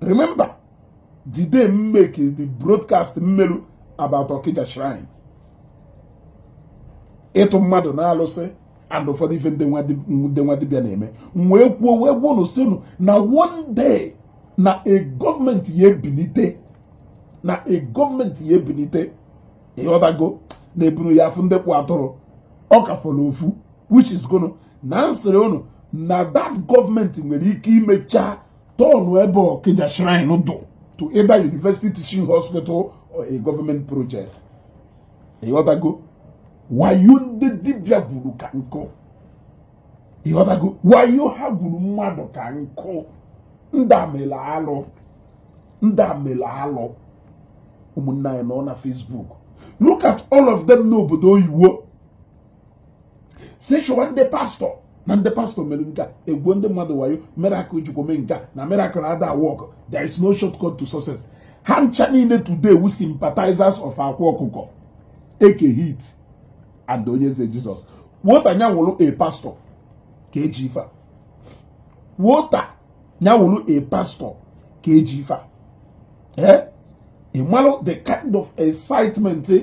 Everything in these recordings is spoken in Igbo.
remember the day m make the broadcast m melu about Okija shrine ịtụ mmadụ n'alụsị and ụfọdụ ife ndị nwa dibịa na-eme wee kwuo wee gwa unu sị unu na one day na a gọọmenti ya ebinite na a gọọmenti ya ebinite ịghọtago na ebunu ya afụ ndị kpụ atụrụ ọ ka fọrọ ofu which is gonna na m sịrị unu na that gọọmenti nwere ike imecha tọọnụ ebe Okija shrine dụ to either university teaching hospital or a government project ịghọtago wayo ndị dibịa gwuru ka nkụ ịghọtago wayo ha gwuru mmadụ ka nkụ ndị a emela alụ ndị a emela alụ ụmụnne anyị nọ na Facebook look at all of them n'obodo oyiwo sị chụwa ndị pastọ na ndị pastọ mere nke a egwuo ndị mmadụ wayo miracle jikwa mee nke a na miracle ada work there is no shortcut to success ha ncha niile today wu sympathizers of Akwa Ọkụkọ Eke Hit and Onyeze Jizọs wọta na ya wụrụ a pastọ ka e ji ife a wọta na ya wụrụ a pastọ ka e ji ife a ee eh? ị malụ the kind of excitement eh?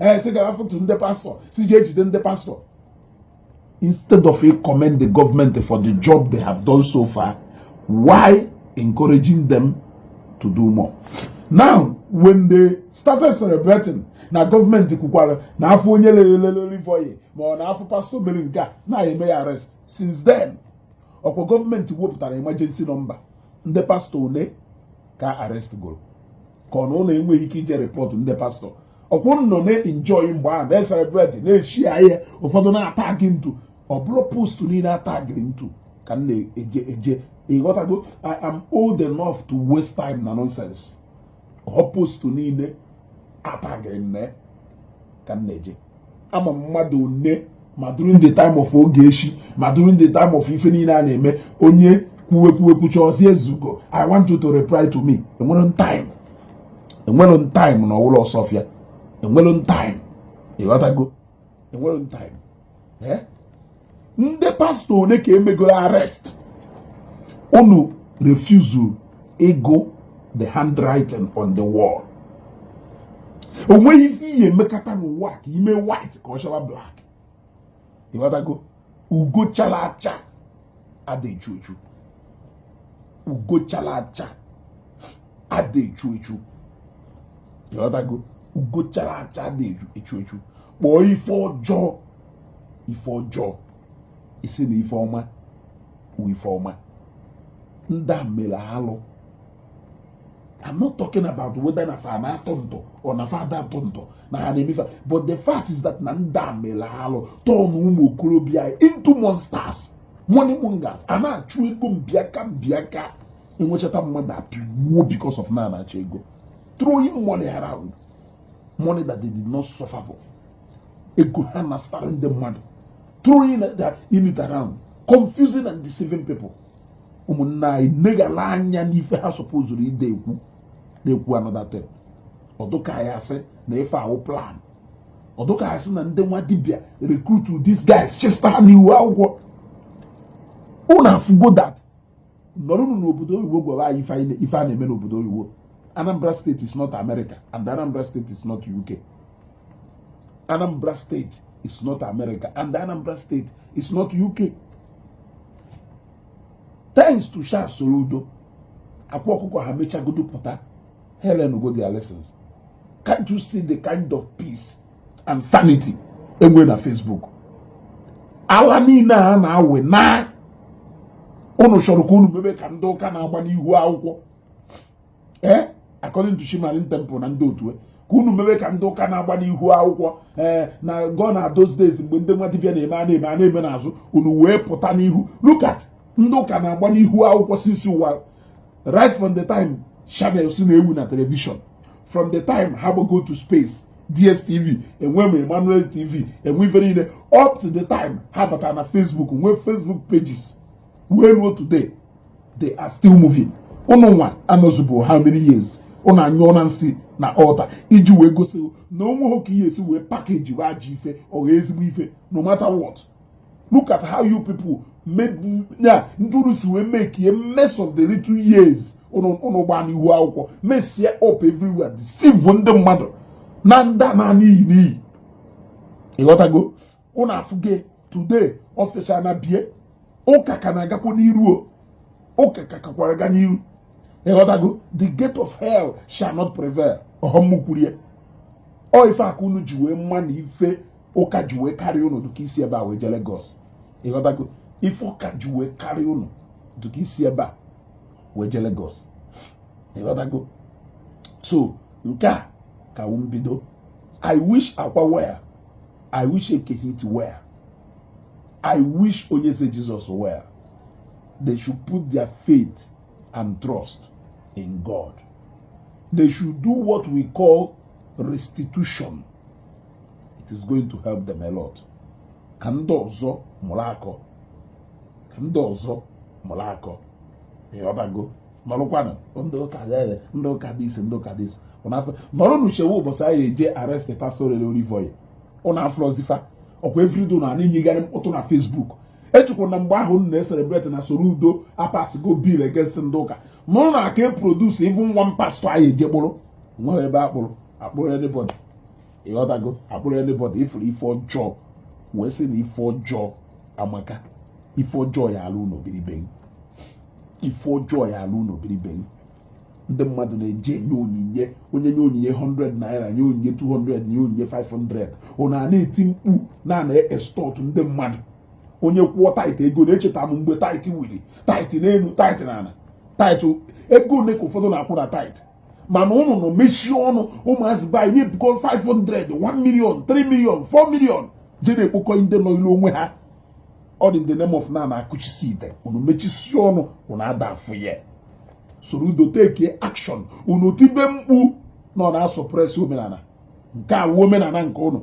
ee eh, sị gaa rịpọtụ ndị pastọ sị jee jide ndị pastọ instead of ị commend the government for the job they have done so far while encouraging them to do more now when they started celebrating na gọọmenti kwukwara na a fụ onye lelelelelivoye ma ọ na a fụ pastọ mere nke a na e mee ya arrest since then ọkwa gọọmenti wepụtara emergency nọmba ndị pastọ one ka a arrestigoro ka ọ na unu enweghị ike ije rịpọtụ ndị pastọ ọkwa unu na-enjoy mgbe ahụ na-eselebreti na-eshare ihe ụfọdụ na-atagị m into ọ bụrọ post niile a tagịrị m into ka m na-eje eje ịghọtago i am old enough to waste time na nonsense ọ post niile a tagịrị m ka m na-eje ama m mmadụ one ma during the time of Ogechi ma during the time of ife niile a na-eme onye kwuwe kwuwe kwucha ọ sị Ezugo i want you to reply to me enwere m time enwere m time na ọwụlọ ọsọfịa enwere m time ịghọtago enwere m time eh? ndị pastọ one ka e megoro arrest unu refusal ịgụ the handwriting on the wall o nweghị ife ị ya-emekata n'ụwa ka i mee white ka ọ chawa black ịghọtago ugo chala acha ada echu echu ugo chala acha ada echu echu ịghọtago ugo chara acha ada echu echu kpọọ ife ọjọọ ife ọjọọ ị sị na ife ọma wụ ife ọma ndị a mere alụ I'm not talking about whether na fa na-atọ ntọ or na fa ada atọ ntọ na ha na-eme fa but the fact is that na ndị a mere alụ turn ụmụ okorobịa into monsters money mongers a na-achụ ego mbiaka mbiaka enwechata mmadụ apịwuo because of na a na-achọ ego throwing money around money that they did not suffer for ego ha na-asara ndị mmadụ throwing that in it around confusing and deceiving people ụmụnne anyị negara anya n'ife ha supposuru ịdị ekwu ekwu another thing ọ dụ ka ya asị na ife a wụ plan ọ dụ ka ya asị na ndị nwa dibịa recruit these guys chịsa ha n'ihu akwụkwọ unu afụgo that nọrụnụ n'obodo oyibo gwa anyị ife a na-eme n'obodo oyibo Anambra state is not America and Anambra state is not UK Anambra state is not America and Anambra state is not UK thanks to Charles Soludo Akwa Ọkụkọ ha mechagodu pụta ha elearngo their lessons can't you see the kind of peace and sanity e nwee na Facebook ala niile a na-awị na unu chọrọ ka unu mebe ka ndị ụka na-agba n'ihu akwụkwọ ee eh? according to Shimarin temple na ndị otu e. ka unu mebe ka ndị ụka na-agba n'ihu akwụkwọ ee eh, na gone are those days mgbe ndị nwa dibịa na-eme n'azụ unu wee pụta n'ihu look at ndị ụka na-agba n'ihu akwụkwọ since ụwa right from the time channels na-ewu na telivishọn from the time ha gbago to space DSTV e nwee Emmanuel TV e nwee ife niile up to the time ha bata na Facebook nwee Facebook pages wee ruo today they are still moving unu nwa anọzubuo how many years unu anyụọna nsị na altar iji wee gosi na o nwehọ ka ị ya-esi wee packagewa ajọ ife ọ ezigbo ife no matter what look at how you people made ụdị unu si wee make a mess of the little years unu gbaa n'ihu akwụkwọ messie up everywhere deceive ndị mmadụ naa ndị a naa n'iyi n'iyi ịghọtago unu afụge today official na bie ụka ka na-agakwa n'iru o ụka ka kakwara ga n'iru ịghọtago the gate of hell shall not prevail ọ họ m kwuru ya ọ ife a ka unu ji wee ma na ife ụka ji wee karịa unu dịka i si ebe a wee je Lagos ịghọtago ife ụka ji wee karịa unu dịka i si ebe a wee je Lagos ịghọtago so nke a ka wụ mbido I wish Akwa well I wish Eke Hit well I wish Onyeze Jesus well they should put their faith and trust in God they should do what we call restitution it is going to help them a lot ka ndị ọzọ mụrụ akọ ka ndị ọzọ mụrụ akọ ịghọtago nọrụkwanụ ndị ụka ndị ụka dị isi ndị ụka dị isi nọrọnụ chewe ụbọchị a ya-eje arrest pastor Olive Oil ụnụ afụrọzi fa ọkwa everyday ụnụ na-enyegharị mkpọtụ na Facebook echekwa na mgbe ahụ na-ecelebrate na Soludo apassigo bill against ndị ụka mana aka e produce even one pastor a ya-eje kpụrụ nweghị ebe akpụrụ akpụrụ anybody ịghọtago akpụrụ anybody ị fụrụ ife ọjọọ wee sị na ife ọjọọ amaka ife ọjọọ ya-alụ ụlọ biri be ghị ife ọjọọ ya-alụ ụlọ biri be ghị ndị mmadụ na-eje enye onyinye onye nye onyinye 100 naira nye onyinye 200 nye onyinye 500 ụnụ ana-eti mkpu na a na-extort ndị mmadụ onye kwụọ tithe ego na-echeta m mgbe tithe wiri tithe n'elu tithe n'ala tithe ego ole ka ụfọdụ na-akwụ na tithe mana ụnụ nọ mechie ọnụ ụmụazị be anyị na-ebukọ 500 1 million 3 million 4 million je na-ekpokọ ndị nọ ilu onwe ha all in the name of na na-akụchisi ite unu mechisie ọnụ unu ada afụ ya Soludo take action unu tibe mkpu na ọ na-asuppress omenala nke a wụ omenala nke ụnụ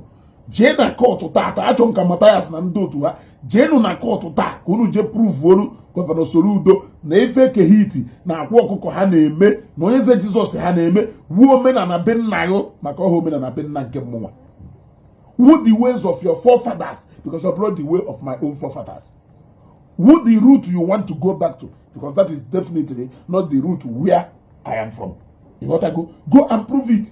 jee na court taata Chuka Mathias na ndị otu ha jeenụ na court taa ka unu jee proveolu Governor Soludo na ife Eke Hit na Akwa Ọkụkọ ha na-eme na Onyeze Jesus ha na-eme wụ omenala be nna ha maka ọ họ omenala be nna nke mmụnwa wụ the ways of your forefathers because ọ bụrọ the way of my own forefathers wụ the route you want to go back to because that is definitely not the route where I am from. Ịghọtago. Go and prove it.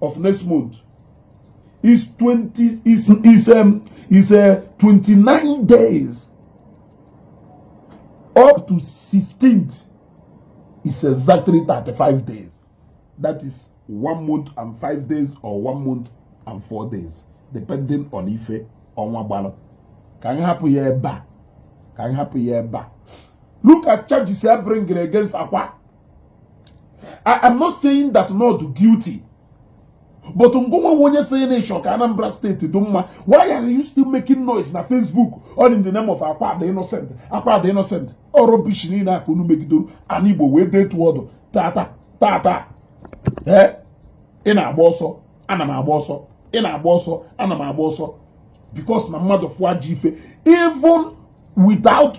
of next month is 20 is is um, is uh, 29 days up to 16th is exactly 35 days that is one month and five days or one month and four days depending on ife ọnwa gbara ka anyị hapụ ya ebe a ka anyị hapụ ya ebe a look at charges e bring against Akwa I am not saying that na ọ dụ guilty but ngụnwa nwe onye sịrị na ị chọ ka Anambra steeti dị mma why are you still making noise na Facebook all in the name of Akwa dụ innocent Akwa dụ innocent ọ rubbish niile a ka unu megidoro ana Igbo wee detu ọdụ tata tata ee eh? ị na-agba ọsọ ana m agba ọsọ ị na-agba ọsọ ana m agba ọsọ because na mmadụ fụa ji ife even without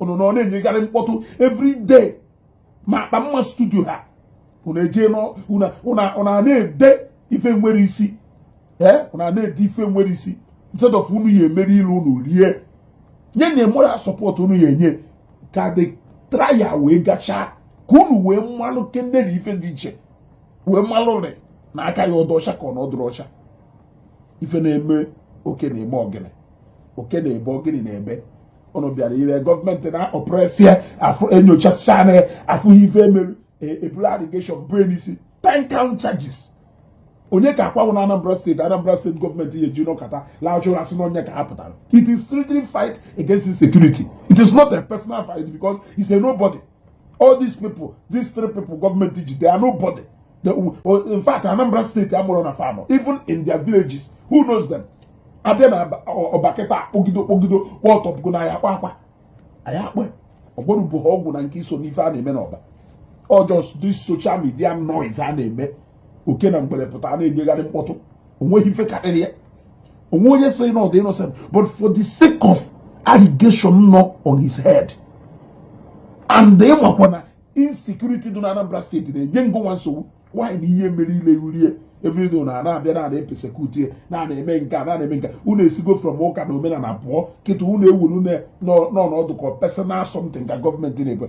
ụnụ nọ na-enyegharị mkpọtụ every day ma akpa mma studio ha ụnụ eje ụnụ na-ede ife nwerọ isi ee eh? ụnụ na-ede ife nwerọ isi instead of unu ya emeri ile unu rie nye na moral support unu ya enye ka the trial wee gachaa ka unu wee malụ kende na ife dị iche wee malụ rị na aka ya ọ dụ ọcha ka ọ na ọ dụrọ ọcha ife na-eme oke na-eme ogini oke na-ebe ogini na-ebe ụnụ bịara ire gọọmenti na-oppress ya afụ enyochasịcha anya ya afụ ife emerụ eburu allegation bue n'isi ten count charges onye ka Akwa wụ na Anambra steeti Anambra steeti gọọmenti ya eji nọkata la-achụ asị na onye ka ha pụtara it is strictly fight against insecurity it is not a personal fight because he's a nobody all these people these three people gọọmenti ji they are nobody they, oh, in fact Anambra steeti amarọ na fa nọ even in their villages who knows them abịa na Ọba kịta kpọgido kpọgido kpọ ọtọpụgo na ya Akwa Akwa anyị akpa ọgwọrụ bụ ha ọgwụ na nke iso n'ife a na-eme n'Ọba ọ just this social media noise a na-eme oke na ngwere pụta na-enyegharị mkpọtụ onweghị ife karịrị ya onwe onye sịrị na ọ dị innocent but for the sake of allegation nọ on his head and ị makwa na insecurity dị na Anambra steeti na-enye ngụnwa nsogbu why na ihe mere ile urie everyday na na-abịa na a na-apersecute ya na a na-eme nke a na a na-eme nke unu esigo from ụka na omenala pụọ kịta unu ewuru n'ọnụ ọ dụ ka personal something ka gọọmenti na-ekwe